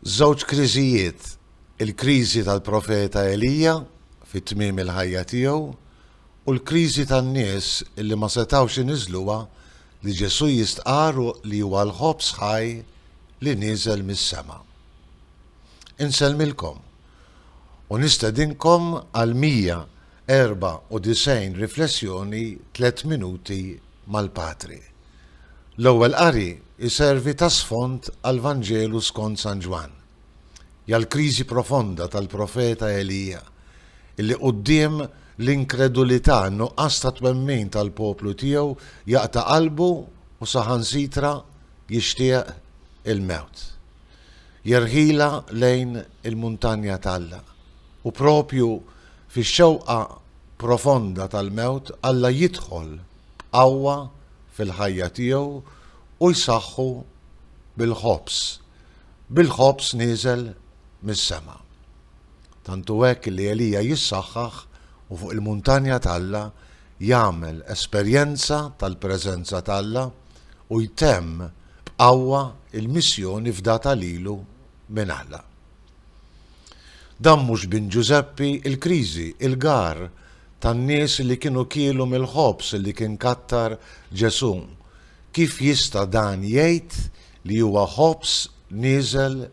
Żewġ kriżijiet, il-kriżi tal-profeta Elija fi tmiem il-ħajja tiegħu u l-kriżi tan-nies li ma setgħux iniżżluha li Ġesù jistqarr li huwa l-ħobż ħaj li nieżel mis-sema. Insellmilkom u nistedinkom għal 100 94 riflessjoni tliet minuti mal-Patri. L-Ewwel Qari jservi ta' sfond għall-Vanġelu skond San Ġwann. Hija l-kriżi profonda tal-profeta Elija, illi quddiem l-inkredulità, in-nuqqas ta' twemmin tal-poplu tiegħu jaqta' qalbu u saħansitra jixtieq il-mewt. Jerħilha lejn il-muntanja t'Alla. U proprju fix-xewqa profonda tal-mewt, Alla jidħol b'qawwa fil-ħajja tiegħu u jsaħħu bil-ħobż, bil-ħobż nieżel mis-sema. Tant hu hekk li Elija jissaħħaħ u fuq il-muntanja t'Alla jagħmel esperjenza tal-preżenza t'Alla u jtemm b'qawwa l-missjoni fdata lilu minn Alla. Dan mhux bin Ġużeppi, il-kriżi, il-gar tan-nies li kienu kielu mill-ħobż li kien kattar Ġesù. Kif jista' dan jgħid li huwa ħobż nieżel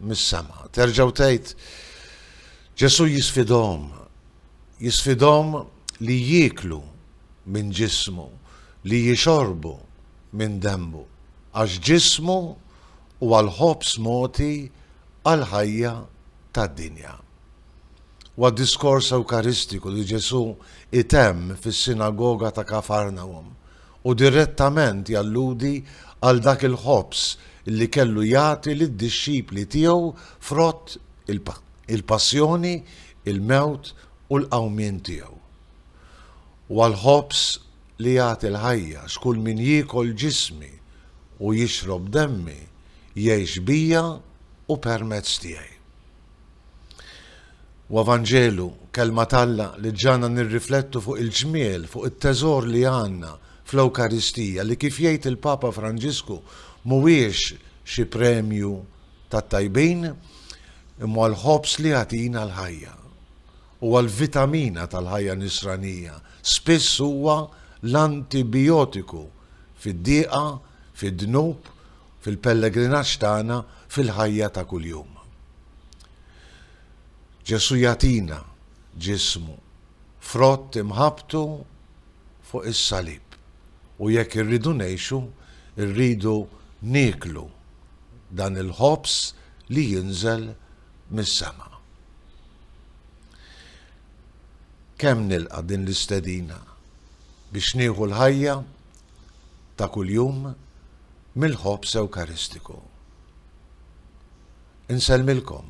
mis-sema? Terġgħu tgħid, Ġesù jisfidahom, jisfidahom li jieklu minn ġismu, li jixorbu minn demmu, għax ġismu u għall-ħobż mogħti għall-ħajja tad-dinja. Wad-diskors Ewkaristiku li Ġesù jtemm fis-sinagoga ta' Kafarnawm, hu direttament jalludi għal dak il-ħobż li kellu jagħti lid-dixxipli tiegħu frott il-Passjoni, il-mewt u l-qawmien tiegħu. Huwa l-ħobż li jagħti l-ħajja, x'kull min jiekol ġismi u jixrob demmi jgħix bija u permezz tiegħi. Huwa Vanġelu, Kelma t'Alla, li ġġagħalna nirriflettu fuq il-ġmiel, fuq it-teżor li għandna fl-Ewkaristija li kif jgħid il-Papa Franġisku mhuwiex xi premju tat-tajbin, imma l-ħobż li jagħtina l-ħajja. huwa l-vitamina tal-ħajja Nisranija, spiss huwa l-antibijotiku fid-diqa, fid-dnub, fil-pellegrinaġġ tagħna, fil-ħajja ta' kuljum. Ġesù jagħtina ġismu, frott imħabbtu fuq is-salib, u jekk irridu ngħixu, irridu nieklu dan il-ħobż li jinżel mis-sema. Kemm nilqa' din l-istedina biex nieħu l-ħajja ta' kuljum mill-ħobż Ewkaristiku. Insellmilkom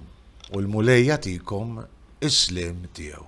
u l-Mulej jagħtikom is-sliem tiegħu.